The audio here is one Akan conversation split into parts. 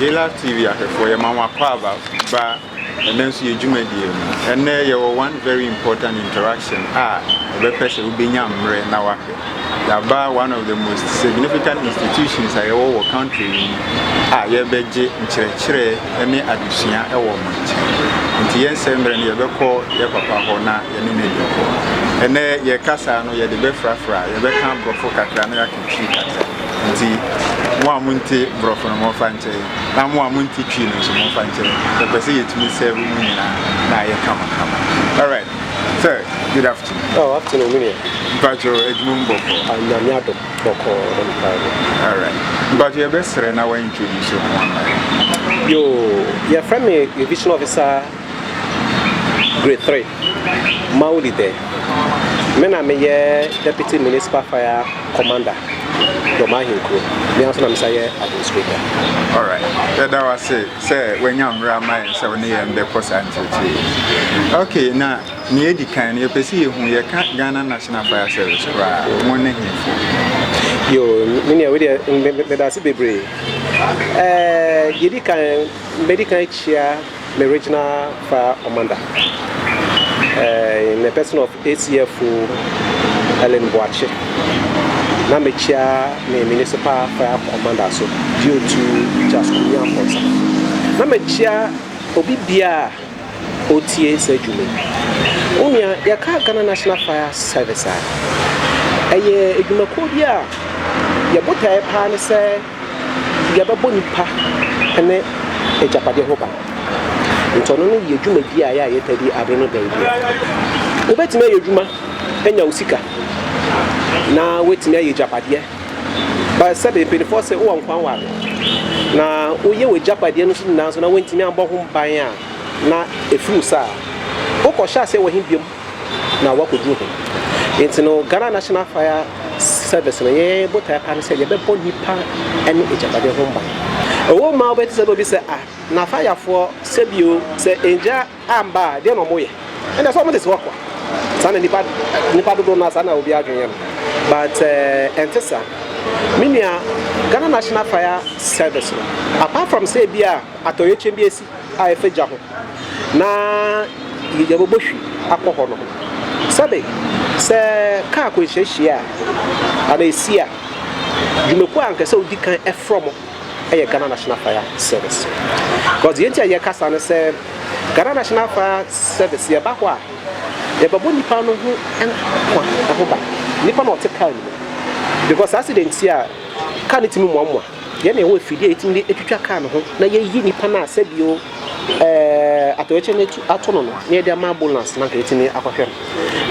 Yɛlive TV ahwɛfoɔ yɛma mo akwaaba ba ɛnɛ nso yɛ dwumadie mu. Ɛnɛ yɛwɔ one very important interaction a ɛbɛpɛ sɛ wobɛnya mmerɛ na wahwɛ. Yɛaba one of the most significant institutions a yɛwɔ wɔ country yi mu a yɛbɛgye nkyerɛkyerɛ ne adesua wɔ mo nkyɛn. Nti yɛnsɛ mmerɛ no yɛbɛkɔ yɛ papa hɔ na yɛne no adi nkɔmmɔ. Ɛnɛ yɛn kasaa no yɛde bɛfrafra, yɛbɛka borɔfo kakra na yɛaka. Twi kasa nti mo a monte borɔfo no momfa nkyɛ yɛn na mo a monte Twi no nso momfa nkyɛ yɛn. Yɛpɛ sɛ yɛtumi sɛɛve mo nyinaa na ayɛ kamakama. Alright, sir, good afternoon. Oh, afternoon, me deɛ. Mpacho, adwuma mu bɔkɔɔ. Ah, nyame adom, bɔkɔɔ, dɛ mpa yɛ. Alright, mpacho yɛbɛsrɛ na wa introduce ho ama yɛn. Yo, yɛfrɛ me revision officer Grade Three, Mauli Dɛ. Me na meyɛ Deputy Municipal Fire Commander Dɔm Ahenkuro. Me ara nso na mesan yɛ Administrator. Alright, yɛda wo ase sɛ wanya mmerɛ ama yɛn sɛ wo ne yɛn bɛkɔ saa nkyerɛkyerɛ yi. Okay, na nea edi kan no yɛpɛ sɛ yɛhu yɛka Ghana National Fire Service koraa wɔn ne hemfo? Yo, me nua, wei deɛ meda ase bebree. Ɛɛ, deɛ edi kan, mɛdi kan akyia Meregyina fa Omanda eh, in the person of ACFO Helen Boakye na mekyia me municipal fire commander so Diotu Jaskumi Amponsah na mekyia obi bia a otie saa dwuma wo nua yɛka Ghana National Fire Service a ɛyɛ adwumakuo bi a yɛ botaeɛ paa ne sɛ deɛ ɛbɛbɔ nnipa ne agyapadeɛ ho ban. Nti ɔno no yɛ dwumadie a yɛ a yɛtaa di abe no dɛn deɛ. Wobɛtumi ayɛ adwuma anya wo sika na woatumi ayɛ agyapadeɛ. Ba sɛbe mpanimfoɔ se wowɔ nkwa nware na woyɛ w'agyapadeɛ no so nyinaa nso na woantumi ammɔ ho ban a na ɛfiri wo saa a, wokɔhyɛ aseɛ wɔ he biom? na wɔakɔduru ho. Nti no Ghana National Fire Service no yɛn botaeɛ paa no sɛ yɛbɛbɔ nnipa ne agyapadeɛ ho ban. Ɛwɔ mu a wobɛte sɛ na obi sɛ ah na fayafoɔ sɛ bio sɛ ngya amba a deɛ na wɔyɛ ɛnna sɛ wɔde si hɔ kwa saa na nipa nipa dodoɔ no saa na obi adwene yɛ no but eh, ɛnte saa me nua Ghana National Fire Service no apart from sɛ ebi a atɔyɛkyɛm bi esi a ɛfa gya ho na yɛbɛbɔ hwi akɔ hɔ no ho. Sɛbe, sɛ kaa akwanhyia hyia a, anaa ɛsi a, dwumakuo a anka ɛsɛ wodi kan frɛ wɔn yɛ Ghana National Fire Service. Because deɛ nti a yɛka saa ne sɛ, Ghana National Fire Service, yɛba hɔ a, yɛbɛbɔ nnipa no ho nkwa ho ban, nnipa no a wɔte kaa no mu. Because accident a, kaa no tumi moamoa. Yɛn na yɛwɔ afidie a yɛtumi de twitwa kaa no ho na yɛyi nipa no a sɛbio atɔyɛkyɛ no ato no no na yɛde ama ambulance na nka yɛtumi akɔhwɛ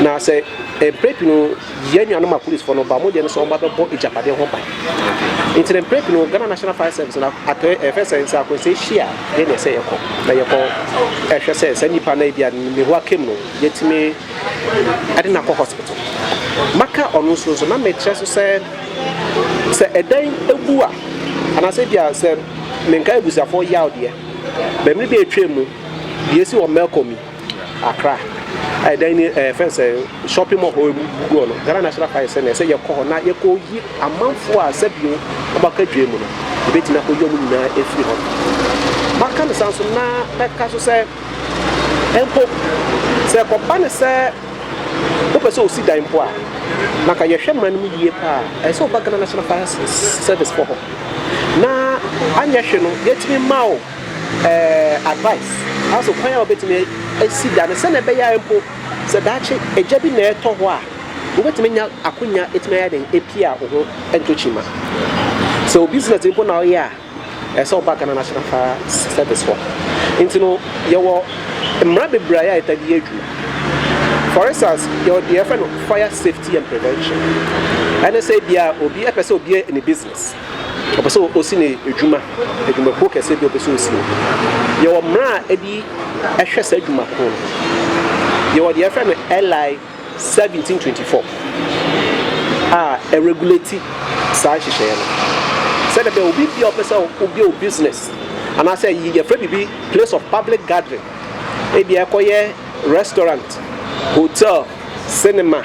no na sɛ mprɛ pii no yɛn nuanom apolisifoɔ no ba mo deɛ no sɛ wɔn ba bɛbɔ agyapadeɛ ho ban nti na mprɛ pii no Ghana National Fire Service na atɔyɛ ɛfɛ sɛ nsa akɔnsɛ hyia yɛn na ɛsɛ yɛkɔ na yɛkɔ ɛhwɛ sɛ sɛ nipa no ebi a ne ho akam no yɛtumi ɛde no akɔ hospital maka ɔno nso nso na mekyerɛ so sɛ Sɛ ɛdan bu a, anaasɛ ebia sɛ menkae abusuafoɔ yaw deɛ, bɛmere bi a atwam mu, deɛ ɛsi wɔ Melcom yi, Accra, a ɛdan ni ɛɛ fɛn sɛ shopping mall hɔ egu guguɔ no, Ghana National Party sɛ nea ɛsɛ yɛkɔ hɔ na yɛkɔyi amanfoɔ a sɛbio wɔaka dwam mu no, yɛbɛtumi akɔyi wɔn nyinaa afiri hɔ. Maka no saa nso na mɛka so sɛ mpo sɛ ɛkɔba no sɛ Wopɛ sɛ osi dan mpo a, na ka yɛhwɛ mmara no mu yie paa a, ɛsɛ sɛ woba Ghana National Fire Service foɔ hɔ. Na anyɛ hwe no, yɛtumi ma wo eh, advice as to kwan a wobɛtumi asi dan no sɛnea ɛbɛyɛ a mpo sɛ daakye agya bi na ɛtɔ hɔ a, wobɛtumi anya akonya ɛtumi ayɛ den apia wo ho ntokyi ma. Sɛ wo business mpo na woyɛ a, Ɛsɛ sɛ ɔba Ghana National Fire Service hɔ. Nti no, yɛwɔ mmara bebree a yɛtaa de yɛ adwuma. For instance, yɛwɔ deɛ yɛfrɛ no Fire Safety and Prevention. Ɛne sɛ ebia obi pɛ sɛ obi ne business, ɔpɛ sɛ ɔsi ne adwuma, adwumakuo kɛseɛ bi ɔpɛ sɛ ɔsi no. Yɛwɔ mmara a ɛde hwɛ saa adwuma ko no. Yɛwɔ deɛ yɛfrɛ no LI. 1724 a ɛregulati saa nhyehyɛeɛ no sɛdeɛ ɛbɛyɛ obi biara ɔpɛ sɛ ɔbia wo business anaasɛ yɛfrɛ biribi place of public gathering ebia ɛkɔyɛ restaurant hotel cinema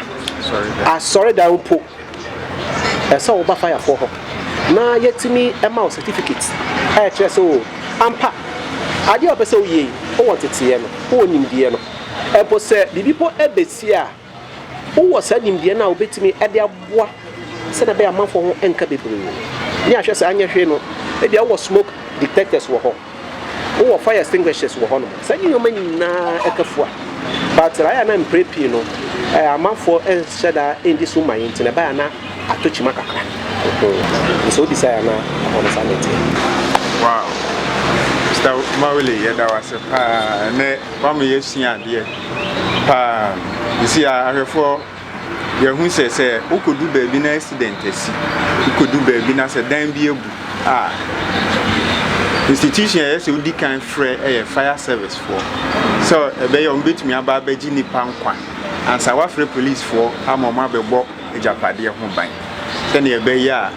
asɔredan mpo ɛsɛ woba fayafoɔ hɔ na yɛtumi ma wo certificate a ɛkyerɛ sɛ o ampa adeɛ a ɔpɛ sɛ woyie wowɔ nteteeɛ no wowɔ nimdeɛ no Mpo sɛ biribi mpo besi a, wowɔ saa nimdeɛ no a wubetumi de aboa sɛnea ɛbɛyɛ a amanfoɔ ho renka bebree. Ne ahwɛ saa nyɛ hwee no, ebia wowɔ smoke detectors wɔ hɔ, wowɔ fire extinguishers wɔ hɔnom, saa nneɛma nyinaa ɛka fua. But srae a na mprɛ pii no amanfoɔ nhyɛ da nndi so mma yi nti no, ɛbae a na atɔ kyima kakra. Nti sɛ wobisae a na ɛhɔ no saa na ɛteɛ. Wow! Mister Mawuli, yɛda wo ase paa. Ɛnnɛ Wama yɛasua adeɛ paa. Sisi a ahwɛfoɔ yɛahu sɛ sɛ wokɔdu baabi na accident asi, wokɔdu baabi na sɛ dan bi abu a, institution a ɛyɛ sɛ wodi kan frɛ yɛ fire service foɔ sɛ ɛbɛyɛ wɔn bɛtumi aba abɛgye nnipa nkwa ansa wafrɛ police foɔ ama wɔn abɛbɔ agyapadeɛ ho ban sɛnea ɛbɛyɛ a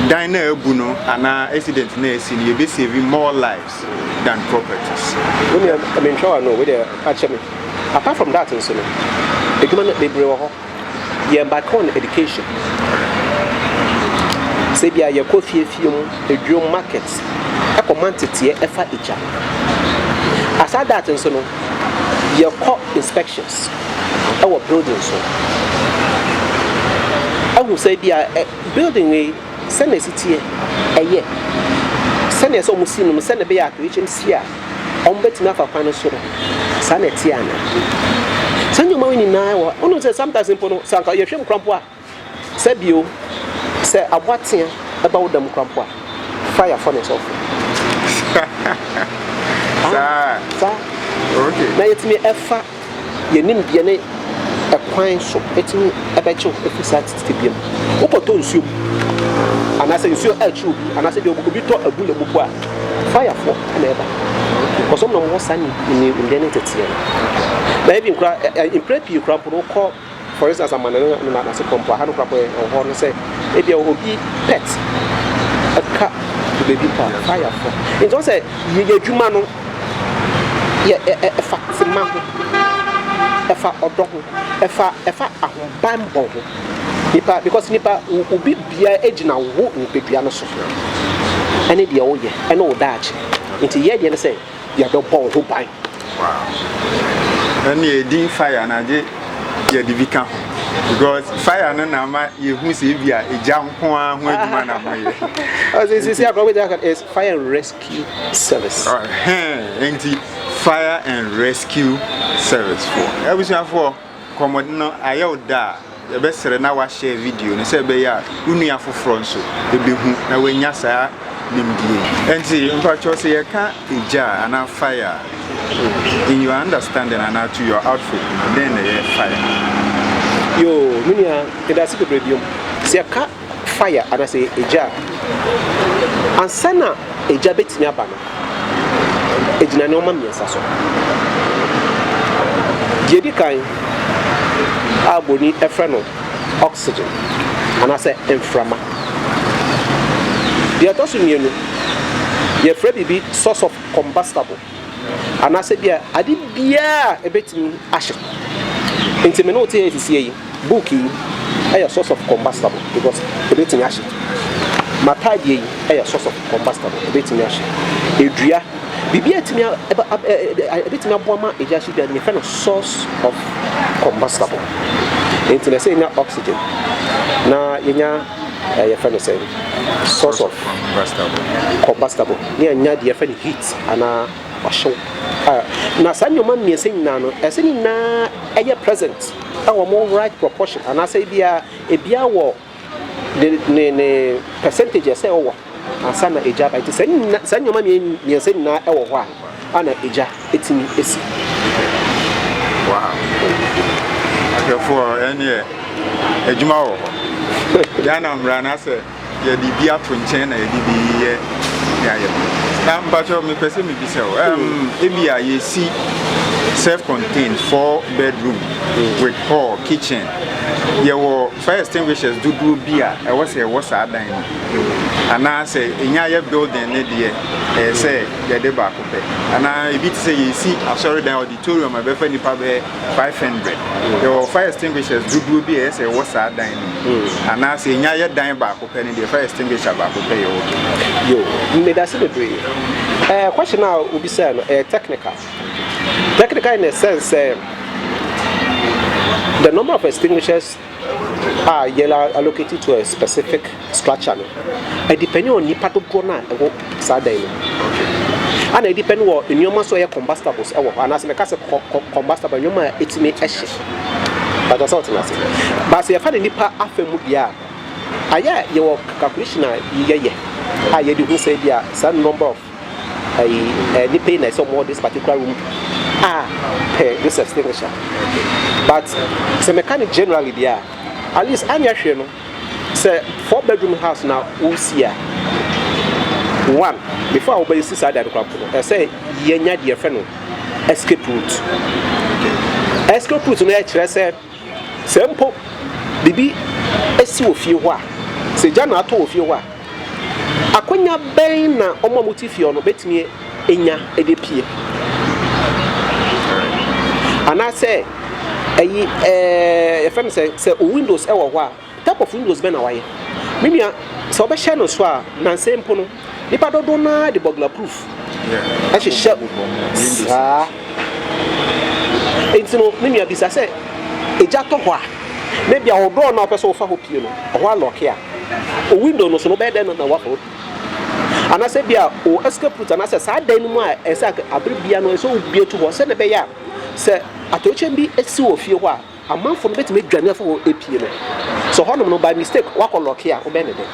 dan na abu no anaa accident na asi no yɛbɛsave more lives. words than properties. Wo nua mentwa w'ano wei deɛ ka kyɛ me apart from that nso no adwuma no bebree wɔ hɔ yɛn back on education sɛ bia yɛkɔ fie fie mu adwuom market ɛkɔ ma nteteɛ ɛfa agya aside that nso no yɛkɔ inspections ɛwɔ building so ahu sɛ bia eh, building wei Sɛ na ɛsi teɛ, ɛyɛ. Sɛ neɛ sɛ ɔmo si no no sɛ na ɛbɛyɛ a HMC a ɔmo bɛtumi afa kwan no so no saa na ɛteɛ anaa? Saa nneɛma wei nyinaa wɔ hɔ a wonim sɛ sometimes mpo no sɛ anka yɛhwɛ mu kora mpo a sɛ bio sɛ aboa tea ɛba wo dam kora mpo a fire fɔ ne sɔfo. Saa. Saa. Okay. Na yɛtumi ɛfa. Yɛnim deɛ ne ɛkwan so ɛtumi ɛbɛkye wo afiri saa tebea mu. Wokɔtɔ nsuo mu anaasɛ nsuo ɛrekye obi anaasɛ deɛ obi tɔ abura mu mpo a, fire foɔ na ɛba. Because wɔn na wɔwɔ saa nimdeɛ ne nteteɛ no. Na even koraa mprɛ pii koraa mpo no wokɔ For instance, amanne no ne n'asefo mpo, aha no koraa kɔyɛ ɛwɔ no sɛ ebia obi pet ɛka to baabi mpo a, fire fo. Nti ɔsɛ yɛyɛ adwuma no yɛ ɛfa tema ho, ɛfa ɔdɔ ho, ɛfa ɛfa ahobanbɔ ho. Nipa because nipa obi bia egyina wo nipadua no so ɛne deɛ woyɛ ɛne wo daakye. Nti yɛ deɛ ne sɛ. yɛbɛbɔ wo ho ban. Wow. Ɛne yɛ din fire na gye yɛde bi ka ho. Because fire no na ama yɛhu sɛ ebi a egya nko ara ho adwuma na moyɛ. Ɔsɛ sisi akɔrɔ bɛ gyaka is fire and rescue service. Ɛhɛn nti fire and rescue service fo. Abusuafoɔ. Nkɔmmɔdi no ayɛ wo dɛ a, yɛbɛsrɛ na woahyɛɛ video no sɛ ɛbɛyɛ a wo nua foforɔ nso bɛhu na wanya saa nimdeɛ yi. Ɛnti mpakyɛw sɛ yɛka egya anaa fire a, in your understanding anaa to your outfit no, dɛn na ɛyɛ fire? Yoo, me nua, medase bebree biom. Sɛ yɛka fire anaasɛ egya a, ansa na egya betumi aba no, egyina nneɛma mmiɛnsa so. Deɛ edi kan a buroni frɛ no oxygen anaasɛ mframa. Deɛ ɛtɔ so mmienu, yɛfrɛ biribi source of combustible. anaasɛ bia ade biara a ɛbɛtumi ahye. Nti me ne wo te yɛ sisi yi, book yi ɛyɛ source of combustible because ɛbɛtumi ahye. M'ataadeɛ yi ɛyɛ source of combustible, ɛbɛtumi ahye. Edua, biribi a ɛtumi ɛbɛtumi aboa ma egya hye biara yɛfrɛ no source of combustible. Nti na ɛsɛ yɛnya oxygen na yɛnya Eh yɛfrɛ no sɛn? Source of Combustable. Combustible. Ne anya deɛ yɛfrɛ no heat anaa ɔhyew. Ah, na saa nneɛma mmiɛnsa nyinaa no, ɛsɛ ne nyinaa ɛyɛ present ɛwɔ mo right proportion anaasɛ ebia ebia wɔ ne ne ne percentage ɛsɛ ɛwɔ. ansa na egya aba. Enti saa nyina, saa nneɛma mmiɛnsa nyinaa wɔ hɔ a, ana egya etumi esi? Wow. Ahwɛfoɔ ɛneɛ adwuma wɔ hɔ. Ghana mmara no asɛ yɛde bi ato nkyɛn na yɛde bi yɛ ne ayɛ pɛ. Na mpakyɛ mepɛ sɛ mebisa o, um, ebi a yɛsi self-contained four bedroom with hall, kitchen, yɛwɔ fire extinguishers dodoɔ bi a ɛwɔ sɛ ɛwɔ saa dan no. anaa sɛ ɛnya yɛ building no deɛ ɛyɛ sɛ yɛde baako pɛ anaa ebi te sɛ yɛsi asɔredan auditorium a ɛbɛfa nipa bɛyɛ 500 yɛwɔ fire extinguishers dodoɔ bi a ɛyɛ sɛ ɛwɔ saa dan no mu hmm. anaa sɛ ɛnya yɛ dan baako pɛ no deɛ fire extinguisher baako pɛ yɛwɔ yo medase bebree ɛɛ eh, question a obi sɛ no ɛyɛ eh, technical technical in a sense sɛ eh, the number of extinguishers a yɛn a allocate to a specific structure no ɛdepɛne wɔ nipa dodoɔ no a ɛwɔ saa dan no ana ɛdepɛne wɔ nneɛma so ɛyɛ combustibles ɛwɔ hɔ anaasɛ mɛka sɛ combustible nneɛma a ɛtumi ɛhye bàtà sɛ ɔtena ase baasa yɛfa ne nipa afa mu deɛ a ayɛ yɛwɔ calculation a yɛyɛ a yɛde hu sɛ bi a saa number of ayi ɛɛ nipa yi na ɛsɛ ɔmo wɔ this particular room a pɛ this extinguisher but sɛ mɛka no generally deɛ a at least anyɛ hwɛ no sɛ four bedroom house na wosi a one before a wobɛsi saa dan koraa no ɛsɛ yɛnya deɛ fɛ no escape route escape route no ɛkyerɛ sɛ Sɛ mpo biribi si wɔ fie hɔ a, sɛ gya na atɔ wɔ fie hɔ a, akwannya bɛn na wɔn a wɔte fie hɔ no betumi anya de apue? Anaasɛ ɛyi ɛɛ yɛfrɛ no sɛ sɛ windows wɔ hɔ a, Type of windows bɛn na wayɛ? Me nua sɛ wobɛhyɛ no so a nansa mpo no nipa dodoɔ no ara de burglar proof ɛhyehyɛ saa nti no me nua bisa sɛ egya tɔ hɔ a na bia wo door no a wopɛ sɛ wofa hɔ pie no ɛhɔ alɔke a o window no so no wobɛyɛ dɛn na wafa hɔ pie anaasɛ bia o escape route anaasɛ saa dan no mu a ɛsɛ abere bia no ɛsɛ wobie to hɔ sɛdeɛ ɛbɛyɛ a sɛ atɔyɛkyɛm bi si wɔ fie hɔ a Amanfoɔ no bɛtumi adwane afi hɔ apue no, sɛ hɔnom no by mistake wakɔ lɔke a wobɛyɛ ne dɛn?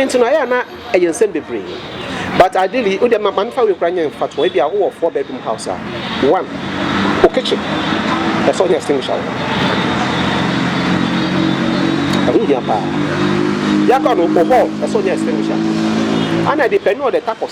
Nti no ayɛ a na ɛyɛ nsɛm bebree but ideally wodeɛ ma memfa wei koraa nyɛ mfatoɔ, ebia wowɔ four bedroom house a, one, wo kitchen ɛsɛ sɛ wonya extinguisher wɔ hɔ, ɛho hia paa. Deɛ aka no, wo hall ɛsɛ sɛ wonya extinguisher, ɛna deɛ pɛn no wɔ the type of.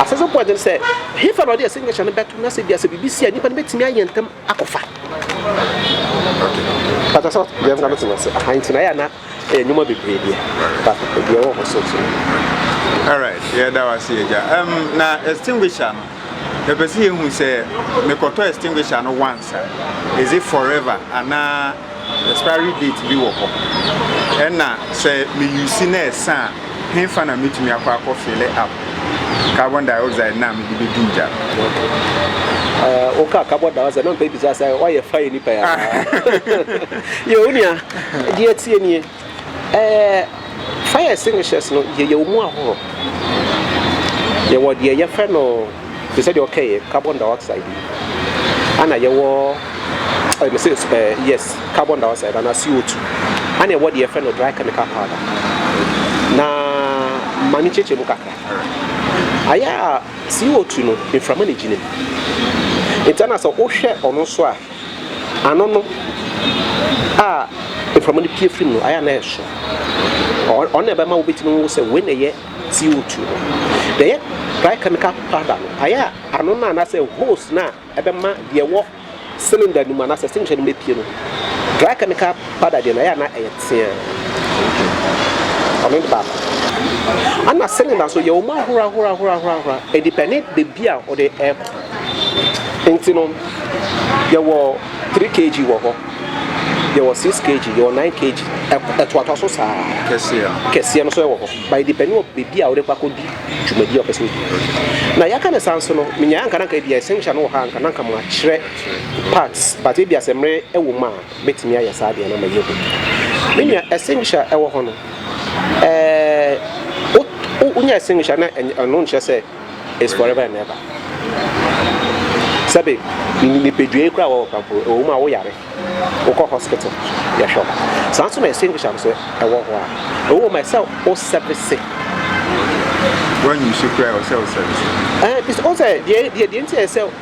Asɛm sɛ bɔne no sɛ hefa na ɔde signature no bɛto na sɛ bia sɛ biribi si a nipa no bɛtumi ayɛ ntɛm akɔfa. Pàtó sɛ deɛ nka no te wase aha nti na yɛ na ɛyɛ nneɛma bebree deɛ pàtó deɛ wɔ hɔ so so. Alright, yɛ da wase agya. Um, na extinguisher no. Mepɛ sɛ yɛhu sɛ mekɔtɔ extinguisher no once a, is it forever anaa expiry date bi wɔ hɔ? Ɛna sɛ me use na ɛsa a, henfa na metumi akɔ akɔ fille up carbon dioxide na mede bɛdum gya no? Woka carbon dioxide na mepɛ bisa sɛ woayɛ fire nipa yi anaa? Yo, onua, deɛ ɛteɛ nie. Ɛɛ fire extinguishers no yɛ yɛwɔ mu ahorow. Yɛwɔ deɛ yɛfrɛ no te sɛ deɛ ɔkɛyɛ carbon dioxide bi, ɛna yɛwɔ ɛɛ mese ɛɛ yes carbon dioxide anaa CO2, ɛna yɛwɔ deɛ yɛfrɛ no dry chemical powder. Na ma me nkyerɛkyerɛ mu kakra. Ayɛ a CO2 no mframa na egyina mu, nti ɛna sɛ wohwɛ ɔno nso a. Ano no a mframa no pue fi mu no, ayɛ a na ɛyɛ soro. Ɔno na ɛbɛma wobɛtumi ahu sɛ wei na ɛyɛ CO2 no. Deɛ ɛyɛ dry chemical powder no, ayɛ a ano no anaasɛ hose no a ɛbɛma deɛ ɛwɔ cylinder no mu anaasɛ extinguisher no mu apue no, dry chemical powder deɛ no, ayɛ a na ɛyɛ teaa. Ɔno ne baako. Ɛna cylinder nso, yɛwɔ mu ahorow ahorow ahorow ahorow ahorow. Ɛdepɛne baabi a wode rekɔ. Nti no, yɛwɔ three kg wɔ hɔ, yɛwɔ six kg, yɛwɔ nine kg, ɛtoatoa so saa. Kɛseɛ no. Kɛseɛ no nso wɔ hɔ. But it depends on baabi a wode kɔ akɔdi dwumadie a wɔpɛ sɛ wodi. Na yɛaka no saa nso no, menyaeɛ anka na anka ebi essential no wɔ ha anka na anka makyerɛ parts. But ebi asɛ mmerɛ wɔ mu a, mɛtumi ayɛ saa deɛ na mayɛ hu. Me nua, essential ɛwɔ hɔ no, ɛɛ, wonya essential na ɛno nkyerɛ sɛ is forever and ever sɛbe nipadua yi koraa wɔwɔ kampo ɛwɔ mu a woyare wokɔ hospital yɛhwɛ wo saa nso na extinguisher nso ɛwɔ hɔ a ɛwɔ mu sɛ wo service wɔnyi so koraa wɔ sɛ wo service ɛɛ eh, ɔsɛ deɛ deɛ deɛ nti ɛsɛ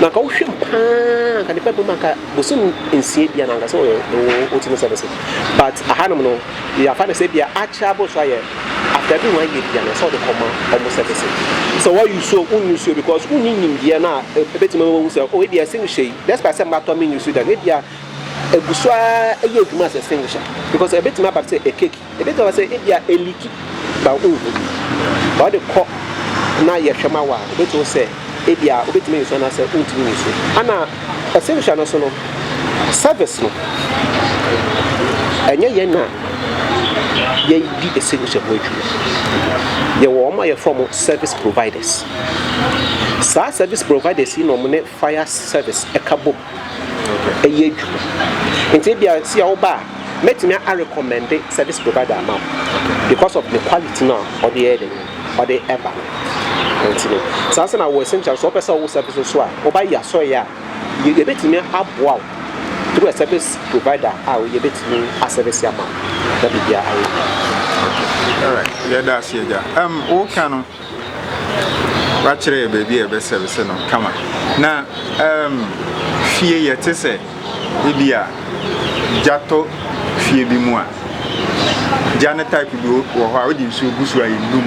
Na anka wohwɛ mu paa anka ne pɛpɛ mu anka bosom nsia bia na anka sɛ wotumi sɛ no so but ahanom no yɛafa no sɛ bia akyerɛ aboro so ayɛ after bi ho ayɛ bia na sɛ wode kɔma ɔmo sɛ bɛsɛ sɛ woayusuo wonyusuo because wonni nimdeɛ no a ɛbɛtumi ma wahu sɛ o ebia extinguisher yi despite sɛ mmatɔ menyusu da no ebia ɛgu so ara ɛyɛ adwuma as extinguisher because ɛbɛtumi aba sɛ ɛkeki Ebi ka sɛ ebia Eliki ba wo nhu bi, na ɔde kɔ na yɛhwɛ ma wo a, obetumi wo sɛ ebia wobetumi nso anaasɛ wontumi nso. Ana ɔsɛ nhwɛ no so no, service no, ɛnyɛ yɛn na yɛdi ɛsɛ nhwɛ ho adwuma. Yɛwɔ wɔn a yɛfrɛ wɔn service providers. Saa service providers yi na wɔn ne fire service ɛka bom. yɛ edwuma ntsi ebia sɛ yɛ wo ba a mɛtumi a recommend service provider ama wo because of ne quality no a ɔde yɛ dɛn ɔde ɛba no ntsi no saa nsa na wɔ essential sɛ ɔpɛ sɛ ɔwo service no so a wo ba yɛ asɔre yɛ a yɛbɛtumi aboa wo through a service provider a yɛbɛtumi a service ama wo na biribia ayɛ yie. Alright, yɛda ase agya. Um, woka no, Wakyerɛ yɛ baabi a yɛbɛsɛvese no kama. Na um, fie yɛte sɛ ebi a gya tɔ fie bi mu a, gya no type bi wɔ hɔ a wode nsuo gu so a ɛnum.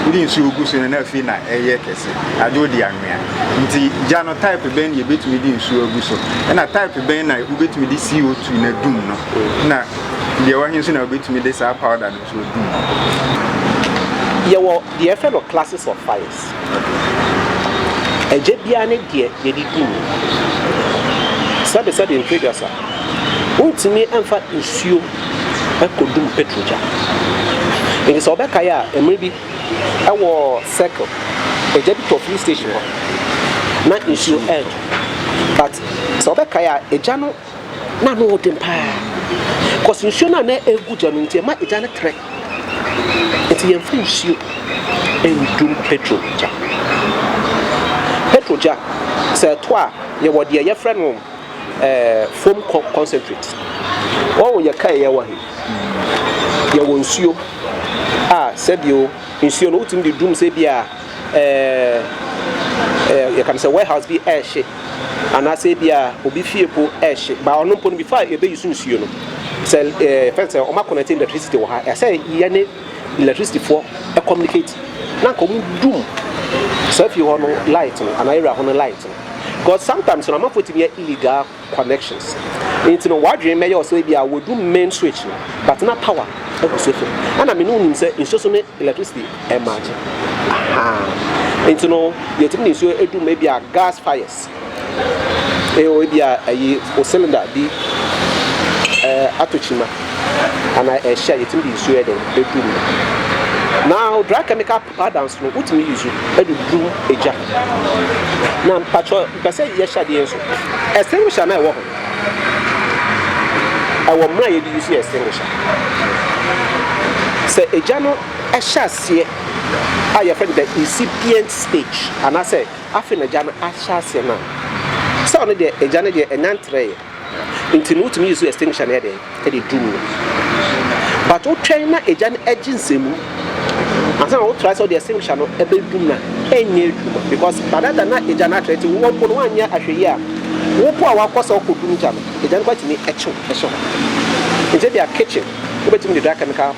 Wode nsuo gu so no na afei na ɛyɛ kɛse, agye wode anwea. Nti gya no type bɛn na yɛbɛtumi de nsuo agu so? Ɛna type bɛn na wobɛtumi de CO2 no adum no? Na deɛ wahe nso na wobɛtumi de saa powder no So di ma wo ho. Yɛwɔ deɛ yɛfrɛ no classes of fires. Ɛgya biara ne deɛ yɛde di mu. Sɛbesɛbe mfiri aduasa, wontumi mfa nsuo nkɔdum petro gya. Nti sɛ wobɛkae a, mmerɛ bi ɛwɔ circle, ɛgya bi tɔ filling station hɔ na nsuo ɛɛtɔ. But sɛ wobɛkae a, ɛgya no. Na ano yɛ den paa cause nsuo no a na ɛregu gya no nti ɛma egya no trɛ. Nti yɛmfa nsuo ndum petrol gya. Petrol gya sɛ ɛtɔ a yɛwɔ deɛ yɛfrɛ no eh, foam concentrate. Wɔn yɛ kae yɛ wɔ he? Yɛwɔ nsuo a sɛdeɛ o nsuo no wotumi de dum sɛ bi a. ɛɛ yɛka no sɛ warehouse bi ɛɛhye anaasɛ ebia obi fie po ɛɛhye ba ɔno mpo no before a yɛbɛ use nsuo no sɛ ɛɛ yɛfɛ sɛ ɔma connect electricity wɔ ha ɛsɛ yɛne electricity foɔ communicate na nka ɔmo dum saa fie hɔ no light no anaa area hɔ no light no because sometimes no amanfoɔ tumi yɛ illegal. connections nti no wadwene mɛyɛ ɔsɛ ebi a wadu main switch no but na power ɛkɔ so fam ɛna me ne wonim sɛ nsuo so ne electricity ɛmaagye ahaa nti no yɛtumi ne nsuo ɛdum ebi a gas fires ɛwɔ ebi a ɛyi o cylinder bi ɛɛ ato kyima anaa ɛhyɛ yɛtumi de nsuo ɛdɛn ɛdum na dry chemical Adams no wotumi use de dum egya. Na mpakyɛ mpɛ sɛ yɛhyɛ adeɛ nso. Extinguisher na ɛwɔ ho. Ɛwɔ mmerɛ a yɛde use extinguisher. Sɛ egya no hyɛ aseɛ a yɛfrɛ no the incipient stage anaasɛ afe na egya no ahyɛ aseɛ no a, sɛ ɔno deɛ egya no deɛ ɛnyantrɛeɛ. Nti no wotumi use extinguisher no yɛ dɛn? Ɛde dum no. But wotwɛn na egya no agye nsɛmu ansa na wo try sɛ wode extinguisher no ɛbɛdum no a, ɛnyɛ adwuma because by that time na egya no atrɛ. Nti wo mpo no woanyɛ ahwɛyie a, wo mpo a wakɔ sɛ wokɔdum gya no, egya no koraa tumi kye wo. Nti ebia kitchen wobɛtumi de dry chemical.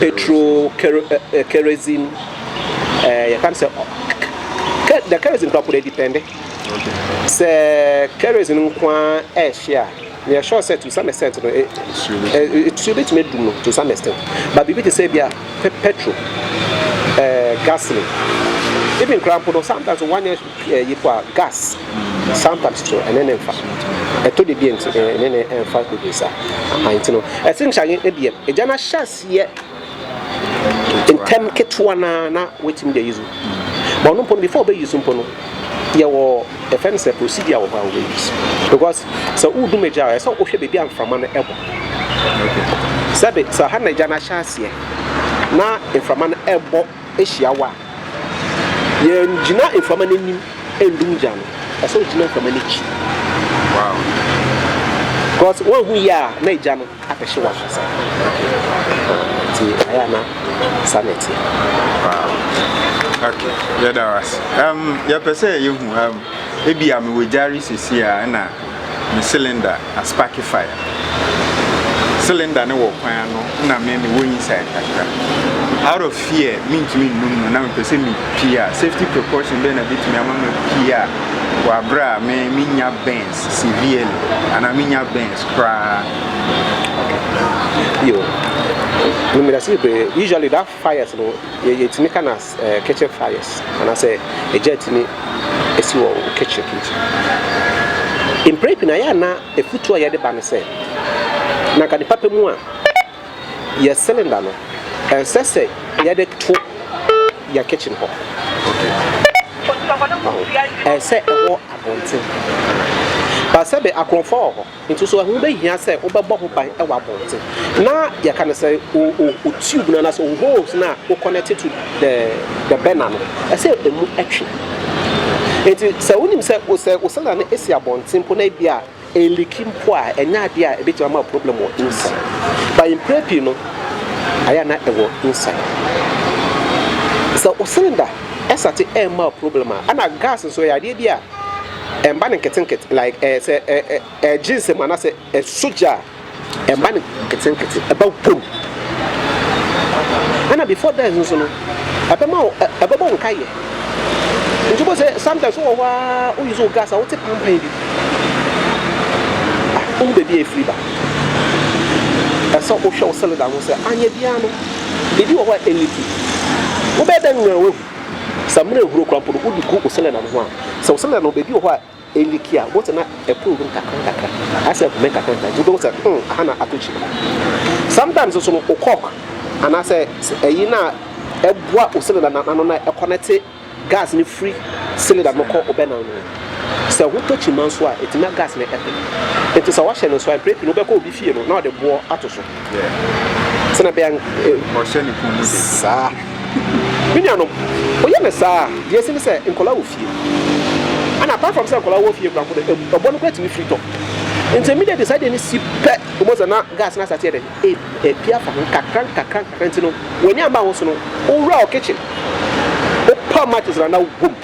petro kerosene yɛka no sɛ the kerosene kora kora depende sɛ kerosene nko a ɛhye a yɛ sure sɛ to some extent no ɛtuo bɛtumi adum no to some extent but biribi te sɛ bi a petro gasoline even kora mpo no sometimes one year Yip a gas sampa titiriw ɛne ne mfa. Ɛtɔ da bi nti ɛne ne mfa bebree saa. Aha nti no ɛsɛ nkyɛ ayɛ ebia egya no ahyɛ aseɛ ntɛm ketewa no ara na watumi de ayi so. But ɔno mpo no before ɔbɛyi so mpo no yɛwɔ ɛfɛ no sɛ procedure wɔ hɔ a wɔbɛyi so because sɛ wodum egya a ɛsɛ wohwɛ baabi a mframa no ɛkɔ. Sɛbe sɛ ha na egya no ahyɛ aseɛ na mframa no ɛbɔ hyia wo a, yɛngyina mframa no anim ndum gya no, ɛsɛ ogyina mframa no akyi. Wow. Because woanhu yie a na egya no abɛhye w'ankasa. Nti ayɛ a na saa na ɛteɛ. Wow. Okay, yɛda wo ase. Um, yɛpɛ sɛ yɛhu um, ebi a mewɔ gyare sisi a ɛna Me cylinder aspake fire. Cylinder no wɔ kwan ano na me me wɔ inside kakra. Out of fear mentumi nnum no na mepɛ sɛ me pie a safety precaution bɛn na bɛtumi ama ma pie a wɔ aberɛ a me menya burns severely anaa menya burns koraa. Yo, me me da se bebree usually that. Fires no yɛ yɛtumi ka no as eh, kitchen fires anaasɛ egya atumi esi wɔ wo kitchen nti mpere pii na yɛ ana efutuo a yɛde ba no sɛ na nka nipa pɛ mu a yɛ cylinder no ɛnsɛ sɛ yɛde to yɛ kitchen hɔ ɛsɛ ɛwɔ abɔnten ba sɛbe akorɔmfoɔ wɔ hɔ Nti so ɛho bɛhia sɛ wobɛbɔ ho ban wɔ abɔnten na yɛka no sɛ wo wo tube no anaasɛ wo holes no a wo connect to the the burner no ɛsɛ ɛmu ɛtwe. Nti sɛ wonim sɛ wo sɛ wo cylinder no ɛsi abɔnten mpo na ebia ɛliki mpo a ɛnyɛ adeɛ a ɛbɛtumi ama wo problem wɔ inside. But mprɛ pii no ayɛ a na ɛwɔ inside. Sɛ wo cylinder ɛsate ɛmma wo problem a ɛna gas nso ɛyɛ adeɛ bi a. ɛmba no nketsenketse like ɛɛ sɛ ɛ ɛ ɛgye nsɛm anaasɛ ɛsɔ gya a ɛmba no nketsenketse ɛba wo pom ɛna before that nso no ɛbɛma wo ɛ ɛbɛbɔ wo nkayɛ nti wobɔ sɛ sometimes wowɔ hɔ ara wo use wo gas a wote pampan bi ah wohu baabi a ɛfiri ba ɛsɛ wohwɛ wo cylinder ho sɛ anyɛ biara no ebi wɔ hɔ a ɛliki wobɛyɛ dɛ nwura wahu Sɛ mmerɛ nhuro koraa mpo no, wode gu wo selɛnda no ho a, sɛ wo selɛnda no baabi wɔ hɔ a ɛliki a, wobɛhu sɛ na ɛporo wura mu nkakrankakra, ayɛ sɛ ɛhome nkakrankakra, nti wobɛhu sɛ hmm, aha na atɔ kyim. Sometimes nso no, wo cork anaasɛ ɛyi no a ɛboa wo selɛnda no ano na ɛkɔnɛte gas no firi selɛnda no kɔ wo bɛnan no, sɛ ho tɔ kyima nso a, ɛtumi ma gas no ɛpɛ. Nti sɛ woahyɛ no nso a, mprɛ pii no wobɛkɔ obi fie no na ɔde boɔ ato so. sɛnea bɛyɛ ɔhyɛ ne kunu mu den saa me nuanom ɔyɛ no saa deɛ ɛsi ne sɛ nkɔla wɔ fie ana apart from sɛ nkɔla wɔ fie kora mpo no ɔbɔ no kora tumi firi tɔ nti immediately saa deɛ no si pɛ ɔmɔ sɛ na gas no asateɛ dɛ ɛpi afa ho nkakra nkakra nkakra nti no w'ani amba ho so no wowura ɔ kitchen wopa matches na na wobom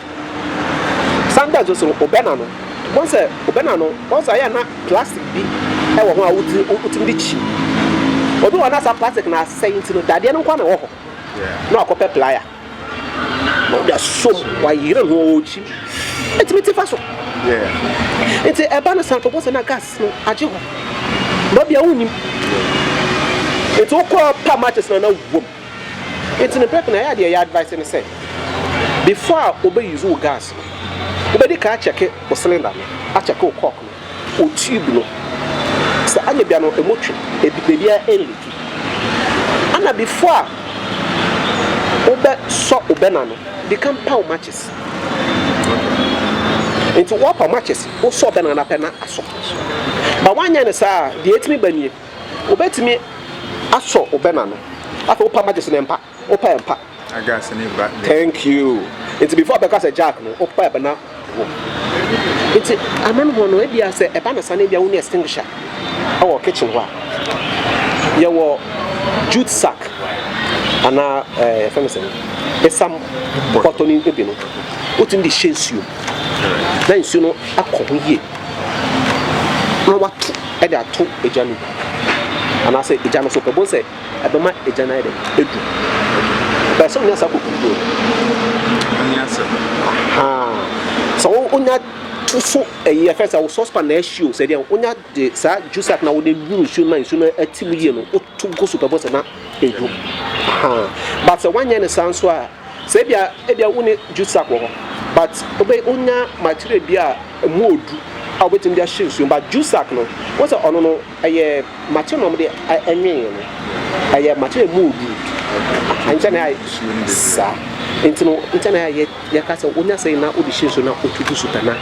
San da nso so no, wobɛna no. Wobɛhu sɛ wobɛna no, wobɛhu sɛ ayɛ a na plastic bi wɔ ho a wotumi de kyi. Obi wɔ hɔ na saa plastic no asɛe nti no, dadeɛ no nko na ɛwɔ hɔ. Na wakɔpɛ playa na ɔde asom, wayere no ɔrekyi. Ɛtumi te fa so. Nti ɛba no saa, wobɛhu sɛ na gas no agye hɔ. Ba bia wonnim. Nti wokɔ pa matches na na wom. Enti no pɛp no ɛyɛ a deɛ yɛ advice ne sɛ before a wo bɛ use wo gas no wo bɛ di kan akyɛke wo cylinder no, akyɛke wo cork no, wo tube no sɛ anyɛ bia no ɛmu twe, bebia ɛnliki. Ɛna before a wo bɛ sɔ wo burner no di kan pa wo matches. Enti wo apa wo matches wo sɔ burner no pɛ na asɔ. But wo anyɛ no saa a deɛ ɛtumi ba nie. Wobɛtumi asɔ wo bɛna no. Afei wopa magye so no ɛmpa. Wopa ɛmpa. Agas ne ba ne. Thank you. Nti before bɛka sɛ Jack no wopa ɛbɛna wo. Nti ama no hɔ no ebia sɛ ɛba no sa no ebia wonni extinguisher ɛwɔ kitchen hɔ a. Yɛwɔ jute sack anaa ɛɛ yɛfɛ no sɛ esam bɔtɔ ne ebi no. Wotumi de hyɛ nsuo na nsuo no akɔ ho yie na wato. de ato egya no gu anaasɛ egya no so pɛ bɔ sɛ ɛbɛma egya no ayɛ dɛ edu bɛyɛ sɛ onya saa kokoduo sɛ wonya to so ɛyi ɛfɛ sɛ wo sɔspan na ɛhyi o sɛ deɛ wonya de saa juice at na wode nwuru nsuo ma nsuo no ati mu yie no woto gu so pɛ bɔ sɛ na edu but sɛ wanyɛ ne saa nso a Sɛ ebia ebia wo ne juice sack wɔ hɔ but wobɛ wonya material bi a ɛmu yɛ du a wobɛtumi de ahye nsuo but juice sack no wo sɛ ɔno no ɛyɛ material na wɔde ɛnwee no ɛyɛ material mu yɛ du nkyɛn na ayɛ saa nti no nkyɛn na ayɛ yɛka sɛ wonya sɛ na wode hyɛ nsuo na wotu gu so pɛ na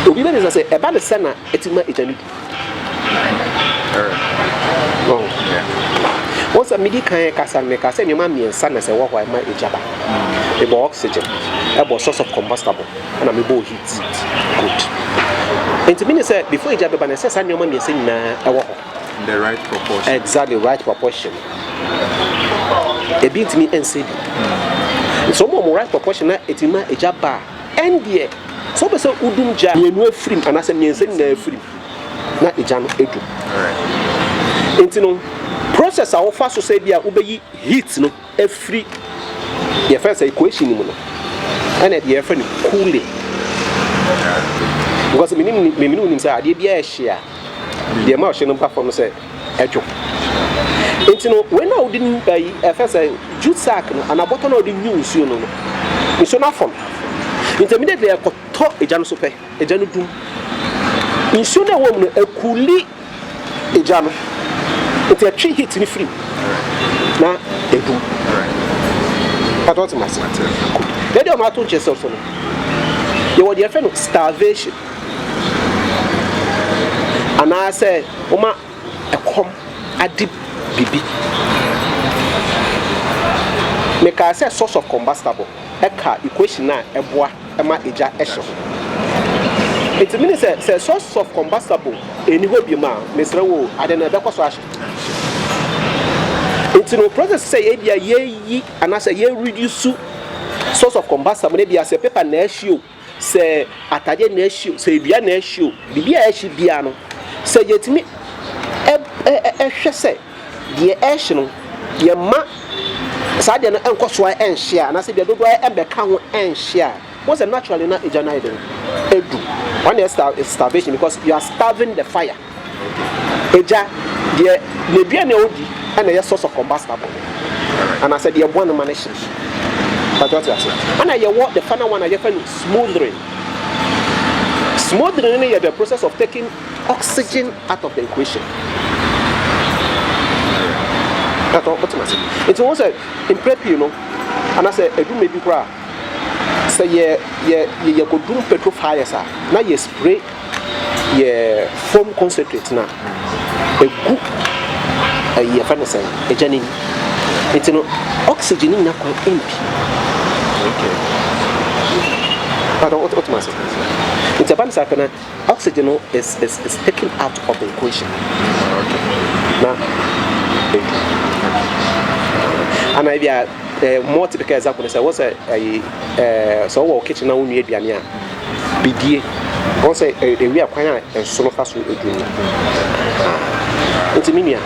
obi bɛ ne sɛ sɛ ɛba ne sɛ na ɛti ma ɛgya ne du Wohu sɛ medi kan kasa no, mekaa sɛ nneɛma mmiɛnsa na sɛ ɛwɔ hɔ a ɛma egya ba. Mebɔɔ oxygen, ɛbɔɔ source of combustible, ɛna mebɔɔ heat. Good. Nti meaning sɛ before egya bɛba no, ɛsɛ sɛ saa nneɛma mmiɛnsa nyinaa ɛwɔ hɔ. The right proportion. Exactly, right proportion. Ebi ntumi ɛnsɛ bi. Nti sɛ wɔn right proportion na ɛtumi ma egya ba a, Ɛndeɛ, sɛ wopɛ sɛ wodum gya mmienu afirim anaasɛ mmiɛnsa nyinaa afirim na egya no adu. Enti no, process a wofa so sɛ ebia wobɛyi heat no afiri deɛ yɛfrɛ no sɛ equation no mu no, ɛna ɛdeɛ yɛfrɛ no cooling. Because menim, me ne wo nim sɛ adeɛ biara ɛhye a, deɛ ɛma ɔhye no ba fam no sɛ dwo. Enti no, wei no a wode nwu ayi, ɛfɛ sɛ jute sack no, anaa bɔtɔ no a wode nwu nsuo no no, nsuo no afɔ no. Enti immediately ɛkɔtɔ egya no so pɛ, egya no dum. Nsuo no a ɛwɔ mu no, ɛkuli egya no. Enti ɛtwe heat no firi mu, na ɛdum. Pata wote m'ase? Good. Baabi a wɔato nkyɛn sɛ so no, yɛwɔ deɛ yɛfrɛ no starvation. anaasɛ woma ɛkɔm ade biribi. Mekaa sɛ source of combustible ɛka equation no a ɛboa ma egya hye ho. Nti meaning sɛ, sɛ source of combustible ɛnni hɔ biom a, mesrɛ wo o, ade no ɛbɛkɔ so ahye. Nti no process sɛ yɛbia yɛyi anaasɛ yɛ reduce source of combustible no, ebia sɛ paper na ɛhye o, Sɛ atadeɛ na ɛhye o, sɛ dua na ɛhye o, biribi a ɛhye biara no, sɛ yɛtumi hwɛ sɛ deɛ ɛhye no, yɛmma saa deɛ no nkɔ so ara nhye a, anaasɛ deɛ dodoɔ ara mmɛka ho nhye a, wohu sɛ naturally na egya no ayɛ dɛn? Adu. Wɔn na ɛyɛ starvation because you are starving the fire. Agya, deɛ n'aduane a ɔdi na ɛyɛ source of combustible no, anaasɛ deɛ ɛboa no ma no hye. Mpakyɛ wote aseɛ? Ɛna yɛwɔ the final one a yɛfrɛ no smothering. Smothering no yɛ the process of taking oxygen out of the equation. Ɛtɔ wote aseɛ? Nti wɔn sɛ mprɛ pii no, anaasɛ adumɛ bi koraa. sɛ yɛ yɛ yɛ yɛkɔduru petrol fires a na yɛ spray yɛ foam concentrate no a ɛgu ɛyi yɛfɛ no sɛn ɛgya no mu nti no oxygen no nya kwan mpi okay. But what what must it? It's a bunch of Oxygen no is is is taken out of equation. Na ana ebi a eh, more typical example is what's a eh, so wɔ kitchen na wonua aduane a bidie wɔn sɛ ewi akwan a ɛso no fa so edu no nti me nua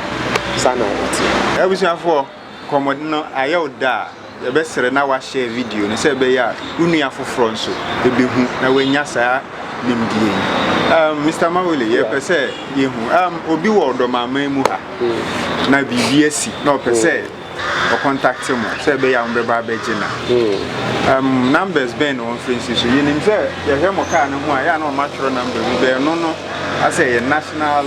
saa na wɔte. abusuafoɔ Nkɔmmɔdi no ayɛ wo dɛ a, yɛbɛsrɛ na woahyɛɛ video no sɛ ɛbɛyɛ a wo nua foforɔ nso bɛhu na wanya saa nimdeɛ yi. Um, Mister Mawele, yɛpɛ sɛ yɛhu, um, obi wɔ ɔdɔmamman mu ha, na biribi asi, na ɔpɛ sɛ ɔkɔntakte mo sɛ ɛbɛyɛ a mobɛba abɛgye na. Um, numbers bɛn na wɔmfrɛ nsi so? Yɛnim sɛ yɛhwɛ mo kaa no ho a, yɛ a na wɔatwerɛ number bi, bɛn no no. asɛ ɛyɛ national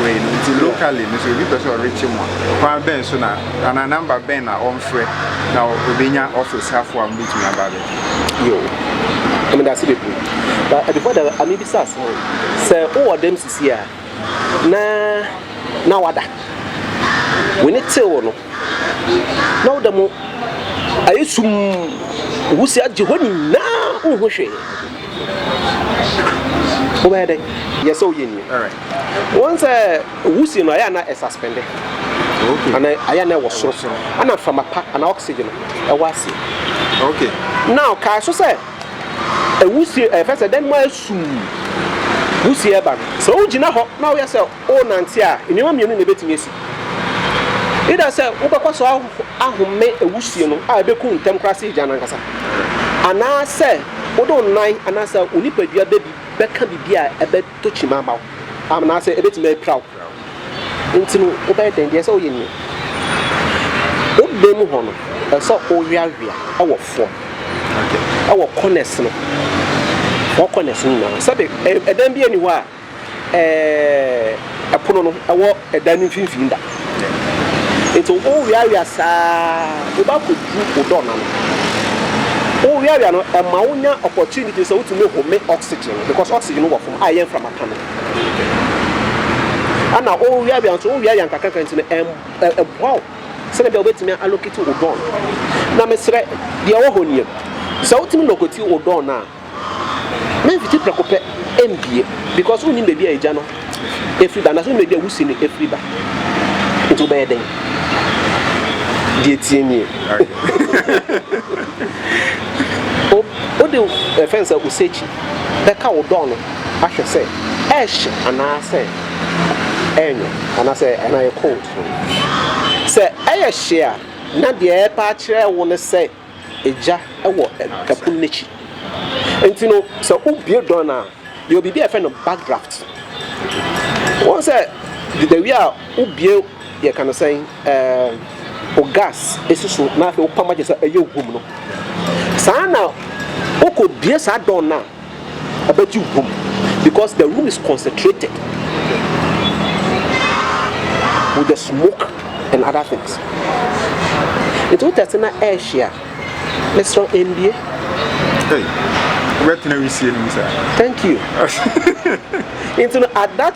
wei no nti locally no sɛ obi pɛ sɛ ɔrekye mu a kwan bɛn so na anaa namba bɛn na ɔmfrɛ na obenya office hafo a mobɛtumi aba abɛgye yo ɛmi da ase bebree but uh, before that ami bisa asɛm sɛ wowɔ dɛm sisi a na na wada w'ani tew no na wo da mu ayɛ sum wusi agye hɔ nyinaa wonhu hwee wobɛyɛ dɛ yɛ sɛ woyɛ ni wɔn sɛ wusi no ayɛ ana ɛsaspɛnde ana ayɛ ana ɛwɔ soro ana mframa pa ana oxygen ɛwɔ ase na ɔkae so sɛ ɛwusie ɛfɛ sɛ dɛn mu ayɛ sum wusie ɛba no sɛ wogyina hɔ na woyɛ sɛ worenante a, nneɛma mmienu na ebetumi asi. Either sɛ wobɛkɔ so ahome awusie no a ebekum ntɛm koraa sɛ egya no ankasa, anaasɛ wode wo nan anaasɛ wo nipadua bɛ bi bɛka biribi a ɛbɛtɔ kyima ama wo, anaasɛ ebetumi apira wo. Enti no, wobɛyɛ dɛn? Deɛ ɛsɛ sɛ woyɛ nie, Wo bɛ mu hɔ no, ɛsɛ sɛ woweawea wɔ fam, wɔ corners no, four corners no nyinaa. Sɛbe ɛdan bi ani hɔ a, ɛɛ, pono no wɔ dan no mfimfini da. Nti woweawea saa woba kɔduru wo dɔ no ano. Woweawea no, ɛma wonya opportunity sɛ wotumi home oxygen no because oxygen no wɔ fam a ɛyɛ mframa ka no. Ɛna woweawea nso, woweawea nkakrankakra nti no, ɛm, ɛboa wo sɛdeɛ bia wobɛtumi a allocate wo dɔ no. Na mesrɛ, deɛ ɛwɔ hɔ nie, sɛ wotumi locate wo dɔ no a, Memfiti prɛko pɛ mbue, because wonnim baabi a egya no firi ba, anaasɛ wonnim baabi a wusi no firi ba. Nti wobɛyɛ dɛn? Deɛ eteɛ nie. O, wode wo, yɛfrɛ no sɛ osechi, bɛka wo dɔɔ no ahwɛ sɛ ɛrehye anaasɛ ɛrenwo, anaasɛ ɛna ɛyɛ cold. Sɛ ɛyɛ hye a, na deɛ ɛrepa akyerɛ wo ne sɛ. gya wɔ ɛpono no akyi. Nti no sɛ wobue dɔɔ no a, yɛwɔ biribi a yɛfrɛ no back draft. Wɔn sɛ dedawie a wobue yɛka no sɛn ɛɛ o gas esi so na afei wopam agye sɛ ɛyɛ hum no. Saa na wokɔ bue saa dɔɔ no a. ɛbɛgye hom because the room is concentrated with the smoke and other things nti wotɛ se na ɛɛhye a mesrɛ ɛndie wobɛtena wisie no mu saa thank you nti no at that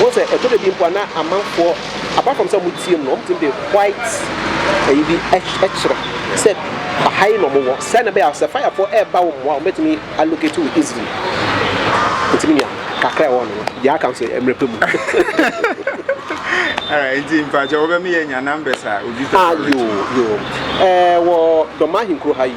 Wohu sɛ ɛtɔ da bi mpo a na amanfoɔ apart from sɛ wɔn tie mu no, wɔn tumi de white ɛyi bi ɛkyerɛ sɛ ha yi na wɔn wɔ. Sɛ na ɛbɛyɛ a sɛ firefoɔ ɛɛba wɔn a wɔn bɛtumi allocate wo easily. Nti me nua kakra ɛwɔ hɔ no no deɛ aka nso mmerɛ pɛ mu. Alright nti mpakyɛw wobɛmi yɛ nya numbers a obi pɛ sɛ ɔretu. Ah yoo yoo ɛɛ wɔ Dɔmaa Ahenkuro ha yi.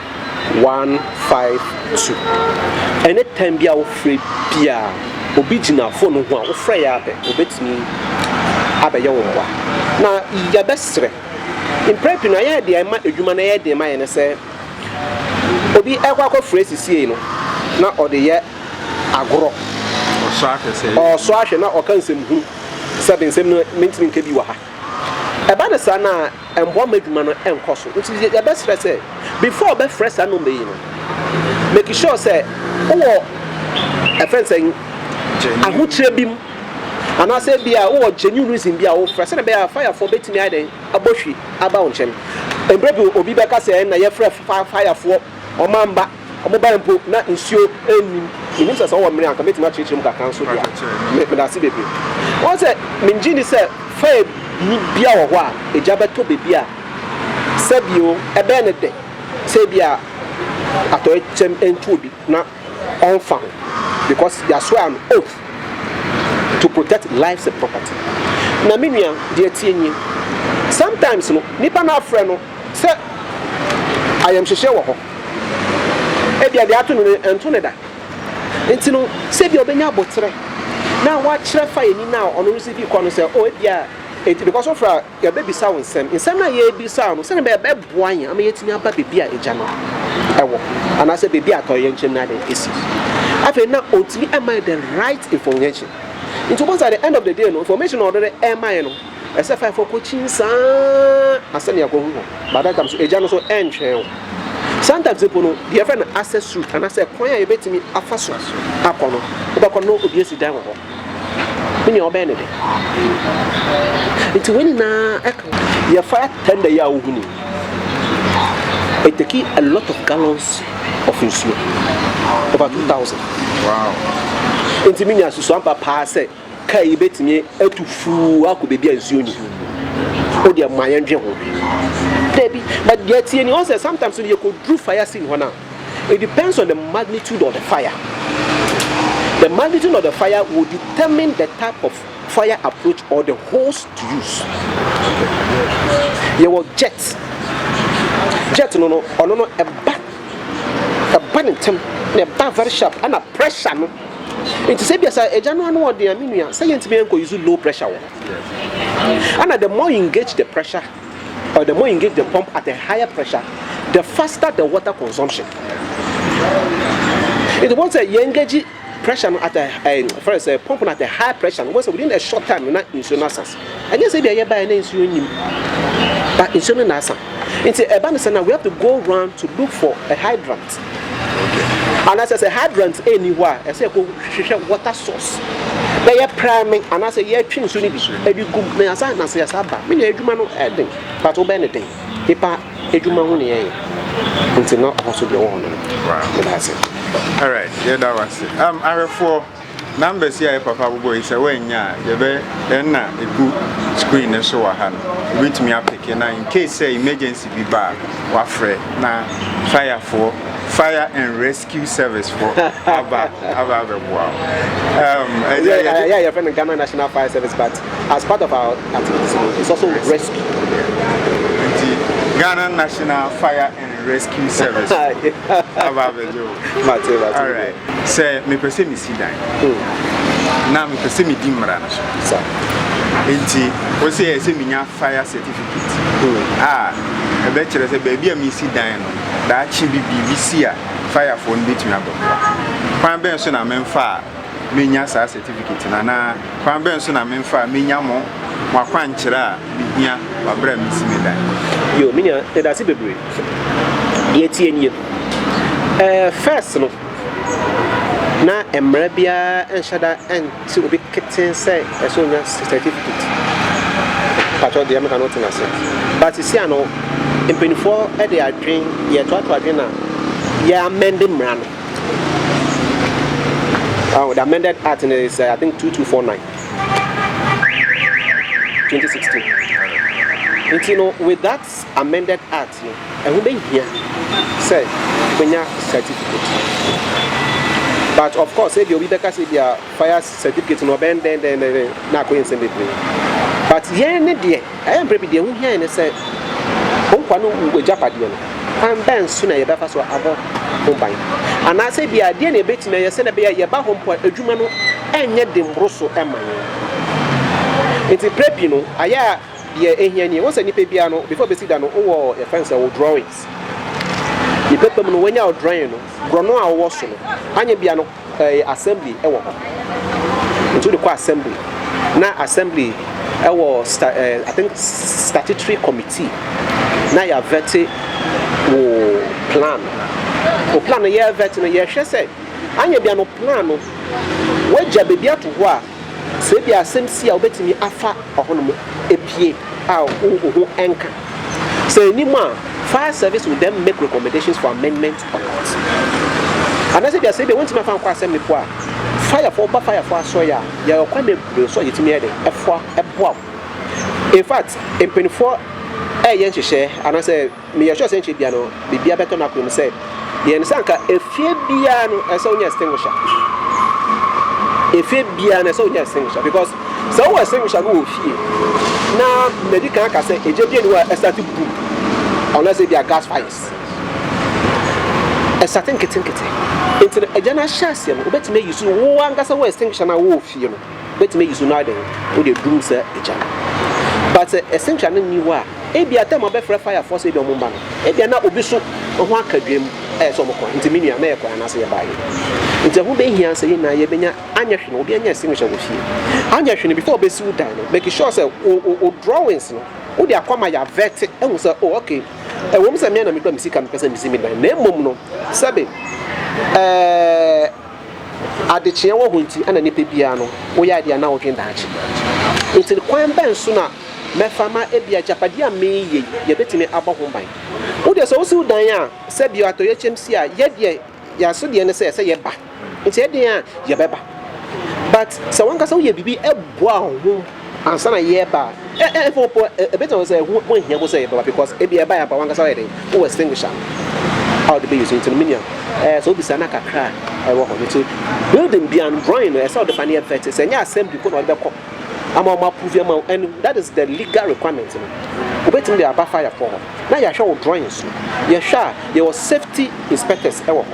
one five two. Ɛne time bi a wofrɛ bi a obi gyina fone ho a wofrɛ yɛ abɛ obetumi abɛyɛ wo mmoa na yɛbɛsrɛ mpere pii no ayɛ deɛ ɛma adwuma no yɛ den ma yɛ ne sɛ obi ɛkɔ akɔfrɛ sisiei no na ɔde yɛ agorɔ ɔsɔ ahwɛ na ɔka nsɛm hunu sɛ de nsɛm no mentumi nka bi wɔ ha ɛba ne saa na Ɛmmoa ma adwuma no nkɔ so. Nti yɛbɛsrɛ sɛ before ɔbɛfrɛ saa number yi no, make sure sɛ wowɔ ɛfrɛ no sɛn, ahokyerɛ bi mu anaasɛ ebia wowɔ genuine reason bi a wofrɛ sɛdeɛ ɛbɛyɛ a fire foɔ bɛtumi ayɛ dɛn abɔ hwi aba wo nkyɛn. Mberɛ bi obi bɛka sɛ ɛnna yɛfrɛ fire foɔ wɔn amma. Wɔbae mpo, na nsuo nnim. Menim sɛ sɛ wɔwɔ mmere a anka mɛtumi akyerɛkyerɛ mu kakra nso de a. Me, medase bebree. Woahu sɛ, mennye nni sɛ fire bi bia wɔ hɔ a egya bɛtɔ baabi a sɛbi o, ɛbɛyɛ no dɛ sɛ ebia atɔeɛ kyɛm nto obi na ɔmfa ho because yɛaswear an oath to protect lives and property. Na me nua, deɛ ɛteɛ nie, sometimes no, nipa no afrɛ no sɛ ayamhyehyeɛ wɔ hɔ. Ebia deɛ ato no no, ɛnto no da. Nti no, sɛdeɛ ɔbɛnya aboterɛ na wakyerɛ fa ani no a ɔno nso de kɔ no sɛ, o ebia ɛti, because wofra a, yɛbɛbisa wo nsɛm. Nsɛm no a yɛrebisa wo no, sɛdeɛ ɛbɛyɛ ɛbɛboa yɛn ama yɛatumi aba baabi a agya no wɔ anaasɛ baabi a atɔyerɛnkyɛm no adɛn asi. Afei na ɔntumi ɛma yɛ the right information. Nti wobɛhu sɛ at the end of the day no, information a ɔde ɛma yɛ no, Ɛsɛ faefoɔ kɔkyin saa ara sɛnea kɔhu hɔ but that time so agya no so ɛntwɛn wo sometimes mpo no deɛ ɛfrɛ no access route anaasɛ kwan a yɛbɛtumi afa so akɔ no wobɛkɔ no obi asi dan wɔ hɔ ne nea ɔbɛn ne de nti wei nyinaa ɛka yɛ fire tender yi a wohu ni it take a lot of gallons of nsuo over 2000 wow nti menya susuampa paa sɛ Car yi betumi atu fuu akɔ baabi a nsuo nni. O deɛ ma yɛn dwen ho. Dabi, but deɛ ɛteɛ ni, ɔn sɛ sometimes no yɛ kɔ duru fire scene hɔ no a, it depends on the magnitude of the fire. The magnitude of the fire will determine the type of fire approach or the hose to use. Yɛwɔ jet, jet no no, ɔno no ɛba, ɛba ne ntɛm, na ɛba very sharp, ɛna pressure no. Nti sɛ bia sɛ agya no ano ɔden a me nua sɛ yɛntumi nkɔ use low pressure wɔ hɔ ana the more you engage the pressure or the more you engage the pump at a higher pressure the faster the water consumption nti wɔn sɛ yɛn engage pressure no at a ɛɛ eh, fɛrɛ sɛ pump no at a higher pressure no wɔn sɛ within a short time na nsuo no asase. Ɛnyɛ sɛ ebia yɛbaeɛ na nsuo nnim, but nsuo no na asa. Nti ɛba no sɛ na we have to go round to look for a hydrant. Anaasɛ sɛ hydrant ɛnni hɔ a, ɛsɛ yɛkɔ hwehwɛ water source. Na yɛpra me anaasɛ yɛtwe nsuo no bi ɛde gum na yɛasa na sɛ yɛasa ba. Me nua adwuma no ɛden, but wobɛyɛ no den. Nipa adwuma ho na yɛyɛ. Nti na ɔho so deɛ wɔ hɔ no. Wow. Yɛda ase. Alright, yɛda wase. Um, ahwɛfoɔ. Numbers yi a yɛ papa bobɔ yi sɛ wannya a yɛbɛ ɛna egu screen no so wɔ ha no wobɛtumi apeke na in case sɛ emergency bi ba a wafrɛ na fire foɔ fire and rescue service foɔ aba aba abɛboa wo. Um, ɛyɛ yɛ yɛ yɛfrɛ no Ghana National Fire Service but as part of our activities no it's also rescue. Nti Ghana National Fire and rescue service aba abɛgye wo alright sɛ mepɛ sɛ mesi dan na mepɛ sɛ medi mmara no so nti wo sɛ yɛ sɛ menya fire certificate a ɛbɛkyerɛ sɛ baabi a mesi dan no daakye bi biribi si a firefoɔ no bɛtumi abɛboa kwan bɛn so na memfa a menya saa sɛtifiketi no anaa kwan bɛn so na memfa a menya mo mo akwankyerɛ a mehia wɔ bere a mesi me dan? Yo, me nua, yɛdase bebree. Deɛ ɛteɛ nie, eh, first no, na mmara biara nhyɛ da nte obi ketee sɛ ɛsɛ onya sɛtifiketi. Mpakyɛw, deɛ meka no wote no ase? But sisi ano, mpanimfoɔ de adwene, yɛtoatoa adwene na yɛamɛnde mmara no. Oh, the amended act is, uh, I think, 2249. 2016. Nti no, with that amended act, no, ɛho bɛhia sɛ bɛnya certificate. But of course, ebi obi bɛka sɛ bi a fire certificate no ɔbɛn dɛn dɛn dɛn na akɔyɛ nsɛm bebree. But yɛn ne deɛ. Ɛyɛ mprɛ bi deɛ ɛho hia yɛn ne sɛ wo nkoa no wu agyapadeɛ no, kwan bɛn so na yɛbɛfa so abɔ ho ban? Anaasɛ ebia ɛdeɛn na yɛbɛtumi ayɛ sɛdeɛ ɛbɛyɛ a yɛba hɔ mpo a adwuma no renyɛ den mmoro so mma yɛn? Enti prɛ pii no, ayɛ a deɛ ɛhia nie, wohu sɛ nipa biara no before bɛsi da no wowɔ yɛfrɛ no sɛ wo drawings. Ne pɛpɛ mu no wanya wo drawing no, borɔno a wowɔ so no, anyɛ bia no, Ɛyɛ assembly wɔ hɔ nti wode kɔ assembly na assembly wɔ sta eh, I think statutory committee na yɛavɛte wo plan wo plan no yɛvɛte no yɛhwɛ sɛ anyɛ bia no plan no wagya baabi ato hɔ a Sɛ ebia asɛm si a, wobetumi afa ɔhon mu epue a wo ho nka. Sɛ enni mu a, fire service will then make recommendations for amendment or cut. Anaasɛ ebia sɛ ebia wontumi afa nkɔ asɛm no po a, firefo ɔba firefo asɔe a yɛwɔ kwan bebree so a yɛtumi yɛ dɛ ɛfoa ɛboa wo. In fact, mpanyinfoɔ ɛyɛ nhyehyɛɛ anaasɛ Meyɛ sure sɛ nkyɛ bia no biribiara bɛtɔ no akwan mu sɛ yɛyɛ no sɛ anka efie biara no ɛsɛ wonya extinguisher. Efie biara no ɛsɛ wonya extinguisher because sɛ wowɔ extinguisher no wɔ fie na madi kan aka sɛ egya bi ani hɔ a ɛsate bum anaasɛ ebi a gas fires ɛsate nketenkete nti no egya no ahyɛ aseɛ no wobɛtumi ayi so wo ankasa wo extinguisher no a wowɔ fie no. bɛtumi ayi so no ara dɛn, wode aduru sɛ gya. But sɛ ɛsentra no nni hɔ a, ebia time a wɔbɛfrɛ fire foɔ sɛ ebia wɔmma no, ebia na obi so ho aka dwam a ɛyɛ sɛ wɔkɔ, nti me nua na yɛkɔɛ anaasɛ yɛbaa he? Nti ɛho bɛhia sɛ yɛn nyinaa yɛbɛnya, anyɛ hwee no obiara nya extinguisher wɔ fie, anyɛ hwee no before wobɛsi wo dan no, make sure sɛ wo wo wo drawings no wode akɔ ama yɛavɛte ahu sɛ oh okay, ɛwom sɛ me ara na mekura me sika mepɛ sɛ mesi me dan na mmom no sɛbe ɛɛ. Adekyeɛ wɔ hɔ nti na nipa biara no woyɛ adeɛ a na wodwen daakye nti no. Kwan bɛn so na mɛfa ma ebi agyapadeɛ a mereyɛ yi yɛbɛtumi abɔ ho ban? Wo deɛ sɛ wosi wo dan a, sɛ bi atoyɛkyɛm si a, yɛ deɛ yɛaso deɛ ne sɛ sɛ yɛba nti ɛdeɛn a yɛbɛba but sɛ wankasa woyɛ biribi boa wo ho. Ansa na yɛreba a, ɛ ɛ ɛmfa wo po ɛ ɛ bɛgyina hɔ sɛ ho ho nhia wo sɛ yɛbɛba because ebia ɛbaeɛ ampa w'ankasa woayɛ dɛn wowɔ extinguisher a wode bɛ use nti no me nua ɛ ɛ sɛ wobisa na kakra a ɛwɔ hɔ no nti building biara no drawing no ɛsɛ wode ba na yɛ vet sɛ ɛnyɛ assembly mpo na wɔde bɛkɔ ama wɔn approve ama wo ɛno that is the legal requirement no wobɛtumi de aba fire fo hɔ na yɛahwɛ wo drawing so yɛhwɛ a yɛwɔ safety inspectors ɛwɔ hɔ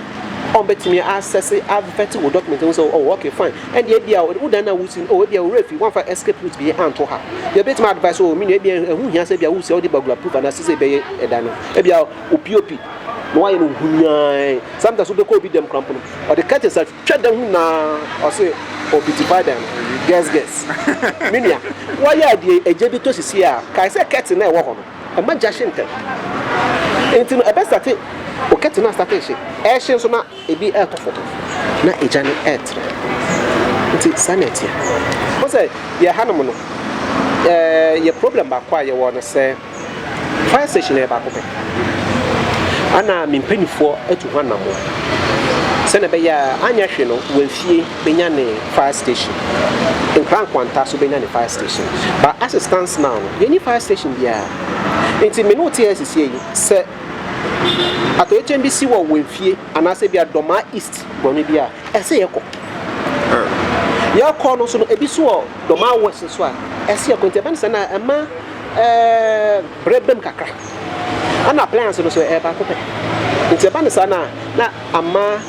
wɔn bɛtumi asɛse avet wo document ho sɛ oh okay fine Ɛnde ebia wo dan a wusi no, oh, ebia wo werɛ afi, woamfa escape route bi anto ha. Ebia ebetumi advice, oh, me nua, ebia ɛho hia sɛ ebia wusi a wode burglar proof anaasɛ sɛ ɛbɛyɛ ɛdan no. Ebia wo POP na woayɛ no huni ara. Sometimes wobɛkɔ obi dam koraa mpo no, ɔde curtains atwitwa dan ho nyinaa, ɔse ɔbeautify dan no. Guess, guess. Me nua, woayɛ ade a gya bi tɔ sisi a, kae sɛ curtain no a ɛwɔ hɔ no, ɛmma gya hye ntɛm. Enti no, ɛbɛstate, wo curtain no astate rehye, ɛrehye nso na Ebi retɔ fam, na egya no retrɛw. Nti saa na ɛteɛ. Wohu sɛ yɛn hanom no, yɛn problem baako a yɛwɔ no sɛ fire station no yɛ baako pɛ. Ana me mpanimfoɔ atu ho anammɔn sɛnea ɛbɛyɛ a anyɛ hwee no wɔn fie bɛnya ne fire station, nkra nkwanta so bɛnya ne fire station. But as it stands now no, yɛnni fire station biara. Nti me ne wo te ha sisi yi sɛ Atɔekyɛm bi si wɔ wɔn fie anaasɛ bi a Dɔmaa East bɔne bi a, ɛsɛ yɛkɔ. Yɛkɔ no nso no, ebi so wɔ Dɔmaa West nso a, ɛsɛ yɛkɔ. Nti ɛbɛ no sɛ na ɛma ɛɛ brɛ bɛm kakra. Ɛna appliance no nso ɛyɛ baako pɛ. Nti ɛba no saa na na ama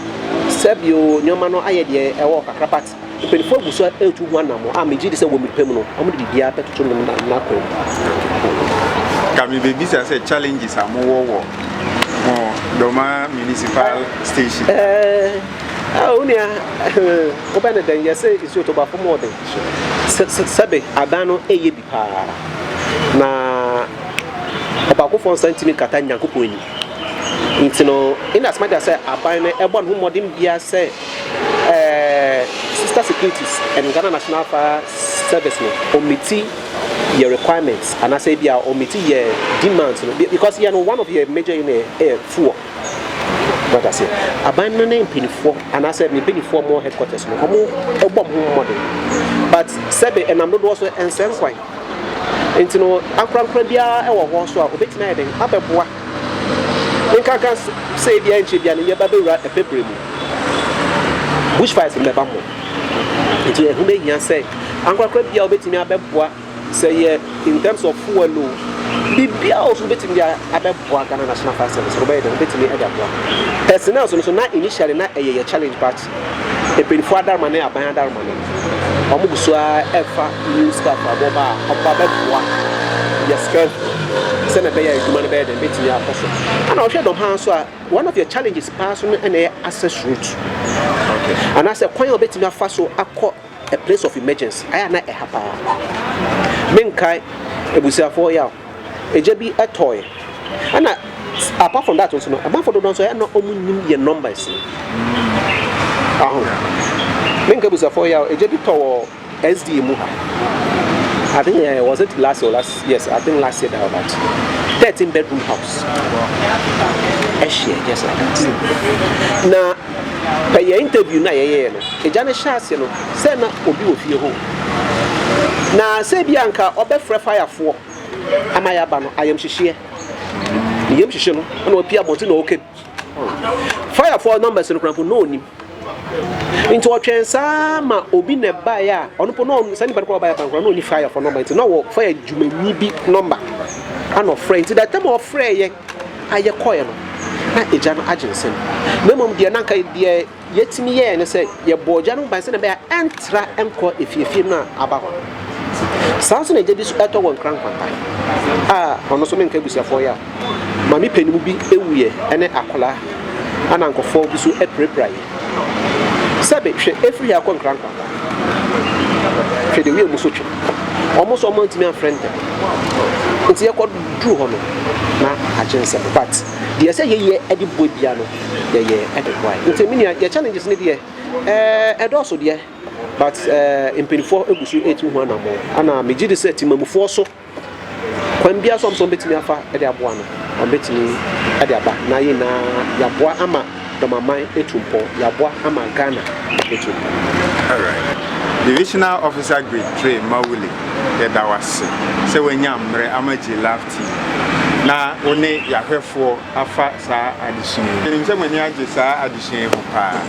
sɛbio nneɛma no ayɛ deɛ ɛwɔ kakra but Mpanyimfo agu so retu ho anammɔn a migye di sɛ wɔ me pɛ mu no, wɔde biribiara bɛtoto no n'akwan mu. Ka mebebisa sɛ challenges a mowɔ wɔ mo Doma Municipal Station? Ɛɛ, ah, onua, wobɛ ne dɛn yɛse nsuo to ba fam ɔden. Sɛbe adan no ɛyɛ bi. paa, na ɔbaakofoɔ nsa ntumi nkata Nyankopɔn anim. Nti no, in as much as sɛ aban no ɛbɔ ne ho mmɔden biara sɛ ɛɛ Sister Securities and Ghana National Fire Service no ɔmmiti yɛ requirements anaasɛ ebi a ɔmmiti yɛ demands no, because yɛn no one of yɛ major yi no yɛ fuel. Wate aseɛ? Aban no ne mpanimfoɔ anaasɛ ne mpanimfoɔ a wɔwɔ headquarters no, wɔbɔ wɔn ho mmɔden. But sɛbe ɛnam dodoɔ so ɛnsɛ nkwan. Nti no, ankorankora biara wɔ hɔ so a obetumi ayɛ dɛn abɛboa. Nkanka sɛ ebi ankyɛ bi a no yɛba bɛwura ɛpɛbrɛ mu. Bushfires mbɛba ho. Nti ɛho bɛhia sɛ ankorankora biara obetumi abɛboa. Sɛ yɛ in terms of fuel o, biribiara o so wobɛtumi de abɛboa Ghana National Fire Service no wobɛyɛ dɛn wobɛtumi de aboa. Personnel so no so na initially na ɛyɛ yɛ challenge but mpanyinfoɔ adaroma ne aban adaroma no wɔn gu so ara ɛfa new staff a wɔba a wɔba bɛboa yɛ scare ho sɛ na ɛbɛyɛ adwuma no bɛyɛ dɛn bɛtumi akɔ so. Ɛna ɔhwɛ dɔm ha nso a one of your challenges paa so no ɛna ɛyɛ access route anaasɛ kwan a wobɛtumi afa so akɔ a place of emergency ayɛ a na ɛha paa menkae abusuafoɔ yaw ɛgya bi ɛtɔɔyɛ ɛna apart from that nso no ɛmanfoɔ dodoɔ nso ɛna ɔmu nim yɛ numbers aho menkae abusuafoɔ yaw ɛgya bi tɔ wɔ SDA mu ha I think uh, was it last year last yes I think last year that about 13 bedroom house ɛhyɛ just like that na Pɛ yɛn interview no a yɛyɛɛ no, agya no hyɛɛ aseɛ no, sɛ na obi wɔ fie hɔ o, na sɛ ebi a nka ɔbɛfrɛ fire foɔ ama yɛaba no, ayamhyehyeɛ, ne yam hyehye no, na wapie abɔnten na ɔɔka bi. Fire foɔ numbers no koraa mpo na ɔnim. Nti ɔtwɛn saa ma obi na ɛbaeɛ a, ɔno mpo na ɔn, saa nipa no koraa ɔbaeɛ aba no koraa na ɔni fire foɔ number, nti na ɔwɔ fire dwumanyi bi number, ɛna ɔfrɛ, nti the time a ɔfrɛeɛ, a yɛkɔeɛ no, na Agya no agye nsam. Na mmom deɛ na anka deɛ yɛtumi yɛeɛ ne sɛ yɛbɔɔ Agya no ho ban sɛdeɛ ɛbɛyɛ a ɛntra nkɔ efiefie no a aba hɔ no. Saa ara nso na Agya bi nso tɔ wɔ Nkran Nkwanta a ɔno nso menka abusuafoɔ yɛ a, maame panin bi wuiɛ ne akwadaa a na nkurɔfoɔ bi nso apirapira yɛ. Sɛbe, hwɛ, efiri ha kɔ nkrankran. Hwɛ deɛ wiem so twe. Wɔn nso wɔn antumi amfrɛ ntɛm. Nti yɛkɔ duru hɔ no, na agye nsɛm. But deɛ sɛ yɛyɛ ɛde boa bia no, yɛyɛ ɛde boa. Nti me nua, yɛ challenges ne deɛ, ɛɛ ɛdɔɔso deɛ, but ɛɛ mpanyinfoɔ egu so etu ho anamɔ. Ɛna megye di sɛ temamufoɔ so. Kwan biara so a ɔpɛ sɛ ɔbɛtumi afa de aboa no, ɔbɛtumi de aba. Na yɛn nyinaa yɛaboa ama Dɔmaman atu mpɔn, yɛaboa ama Ghana atu mpɔn. Alright. Divisional Officer Grade Three Mawuli, yɛda wo ase sɛ woanya mmerɛ ama G-Love TV na wo ne yɛn ahwɛfoɔ afa saa adesua yi. Menim sɛ mo ani agye saa adesua yi ho paa.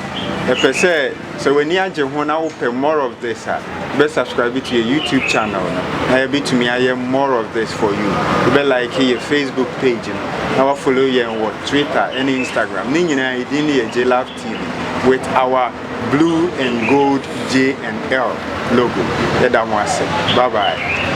Ɛpɛ sɛ. Sɛ w'ani agye ho na wopɛ more of this a, bɛ subscribe to yɛ YouTube channel no na yɛbɛtumi ayɛ more of this for you. Wobɛ like yɛ Facebook page no na wa follow yɛn wɔ Twitter ne Instagram. Ne nyinaa yɛ din no yɛ Jlove TV with our blue and gold J and L logo. Yɛda mo ase. Bye bye.